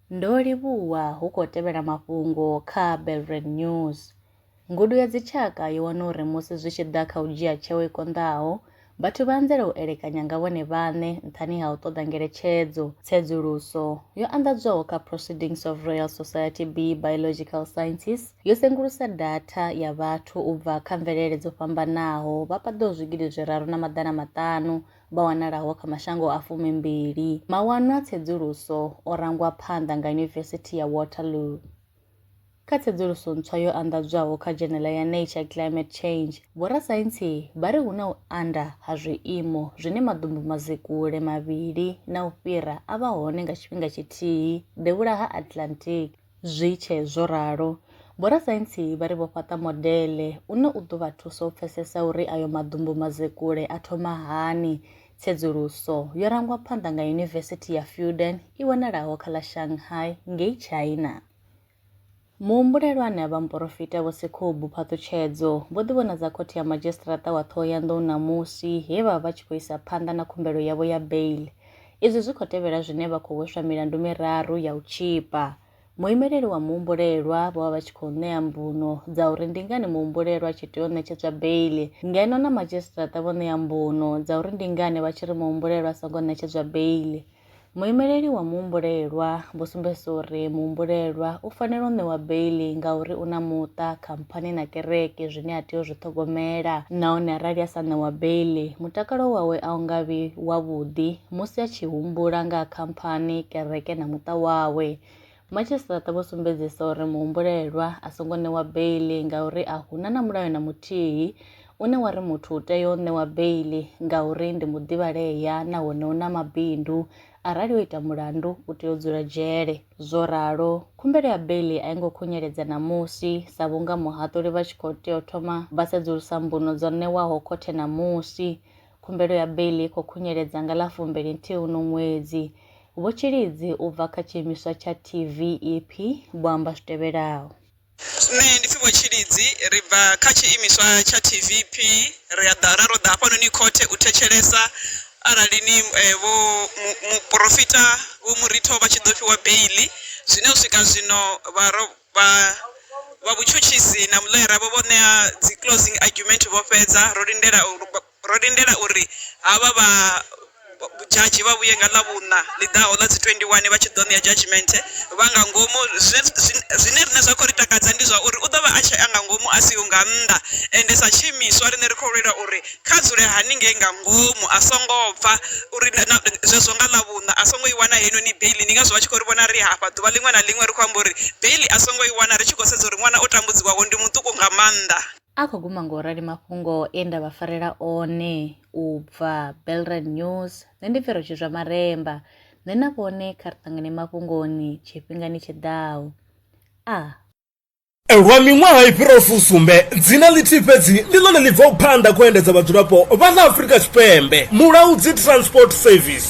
Ndo livhuwa hu khou tevhela mafhungo kha Belvred News. Ngudo ya dzitshaka yo wana uri musi zwi tshi ḓa kha u dzhia tsheo i konḓaho, vhathu vha anzela u elekanya nga vhone vhaṋe nṱhani ha u ṱoḓa ngeletshedzo. Tsedzuluso yo anḓadzwaho kha Proceedings of Royal Society B Biological Sciences Yo sengulusa datha ya vhathu u bva kha mvelele dzo fhambanaho vha paḓaho zwigidi zwiraru na maḓana maṱanu vha wanalaho kha mashango a fumimbili. Mawanwa a tsedzuluso o rangwa phanḓa nga Yunivesithi ya Waterloo. Kha tsedzuluso ntswa yo anḓadzwaho kha dzhenela ya Nature Climate Change, vhorasaintsi vha ri hu na u anda ha zwiimo zwine maḓumbu mazikule mavhili na u fhira a vha hone nga tshifhinga tshithihi devhula ha Atlantic. Zwi tshee zwo ralo, vhorasaintsi vha ri vho fhaṱa modele une u ḓo vha thusa u pfesesa uri ayo maḓumbu-mazekule a thoma hani. Tsedzuluso yo rangwa phanḓa nga Yunivesithi ya Fudan i wanalaho kha ḽa Shanghai ngei China. Muhumbulelwa ane a vha muporofita Vho Sekhubu Phaṱhutshedzo vho ḓivhonadza Khothe ya Madzhisiṱaraṱa wa Ṱhohoyanḓou ṋamusi he vha vha vha tshi khou isa phanḓa na khumbelo yavho ya bail Izwi zwi khou tevhela zwine vha khou hweswa milandu miraru ya u tzhipa. Muimeleli wa muhumbulelwa vho vha vha tshi khou ṋea mbuno dza uri ndi ngani muhumbulelwa a tshi tea u ṋetshedzwa beiḽi, ngeno na madzhisiṱiraṱa vho ṋea mbuno dza uri ndi ngani vha tshi ri muhumbulelwa a songo ṋetshedzwa beiḽi. Muimeleli wa muhumbulelwa vho sumbedzisa uri muhumbulelwa u fanela u ṋewa beiḽi ngauri u na muṱa kha. fhani na kereke zwine a tea u zwi ṱhogomela nahone arali a sa ṋewa beiḽi mutakalo wawe a u nga vhi wavhuḓi musi a tshi humbula nga khamphani kereke na muṱa wawe madzhisiṱaraṱa vho sumbedzisa uri muhumbulelwa a songo ṋewa beiḽi ngauri a huna na mulayo na muthihi une wa ri muthu u tea u ṋewa beiḽi ngauri ndi muḓivhalea nahone u na mabindu Arali o ita mulandu, u tea u dzula dzhele. Zwo ralo, khumbelo ya beiḽi a i ngo khunyeledza ṋamusi sa vhunga muhaṱuli vha tshi khou tea u thoma vha sedzulusa mbuno dzo ṋewaho khothe ṋamusi. Khumbelo ya beiḽi i khou khunyeledza nga ḽa fumbili-nthihi uno ṅwedzi. Vho Tshilidzi u bva kha tshiimiswa tsha TVEP vho amba zwi tevhelaho. Nṋe ndi Pfhivo Tshilidzi ri bva kha tshiimiswa tsha TVP ri a ḓa ra ro ḓa hafhanoni khothe u thetshelesa arali ni vho muporofita Vho Muritho vha tshi ḓo fhiwa beiḽi zwine u swika zwino vha ro vha vha vhutshutshisi na muḽoyara vho vho ṋea dzi closing argument vho fhedza ro lindela u. Ro lindela uri havha vha dzhadzhi vha vhuye nga Ḽavhuṋa ḽi ḓaho ḽa dzi 21 vha tshi ḓo ṋea dzhadzhimenthe vha nga ngomu. Zwine riṋe zwa khou ri takadza ndi zwa uri u ḓo vha a tshee nga ngomu a siho nga nnḓa, ende sa tshiimiswa riṋe ri khou lwela uri kha dzule haningei nga ngomu a songo bva, uri na zwezwo nga Ḽavhuṋa a songo i wana heinoni beiḽi. Ndi ngazwo vha tshi khou ri vhona ri hafha ḓuvha ḽiṅwe na ḽiṅwe ri khou amba uri beiḽi a songo i wana ri tshi khou sedza uri ṅwana o tambudziwaho ndi muṱuku nga maanḓa. A khou guma ngo rali mafhungo e nda vha farela one u bva Belrad News, nṋe ndi Pfero Tshizwa Maremba, nṋe na vhone kha ri ṱangane mafhungoni tshifhingani tshi ḓaho. A. Lwa miṅwaha i fhiraho fusumbe, dzina ḽithihi fhedzi ndi ḽone ḽi bvaho phanḓa kha u endedza vhadzulapo vha ḽa Afrika Tshipembe, Mulaudzi Transport Service.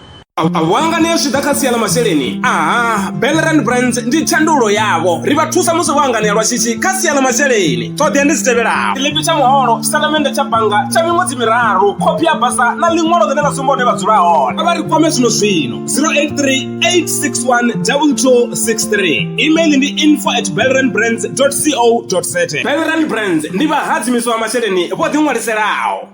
a vho hanganea zwi ḓa kha sia ḽa masheleni aha belrand brands ndi tshandulo yavho ri vha thusa musi vho hanganea lwa shishi kha sia ḽa masheleni ṱhoḓea ndi dzi tevhelaho tshiḽipi tsha muholo tshitatamennde tsha bannga tsha miṅwedzi miraru khophi ya basa na ḽiṅwalo ḽine ḽa sumba hune vha dzula hone a vha ri kwame zwino zwino 0838612263 email ndi info at belrand brands co za belrand brands ndi vhahadzimiswa vha masheleni vho ḓiṅwaliselaho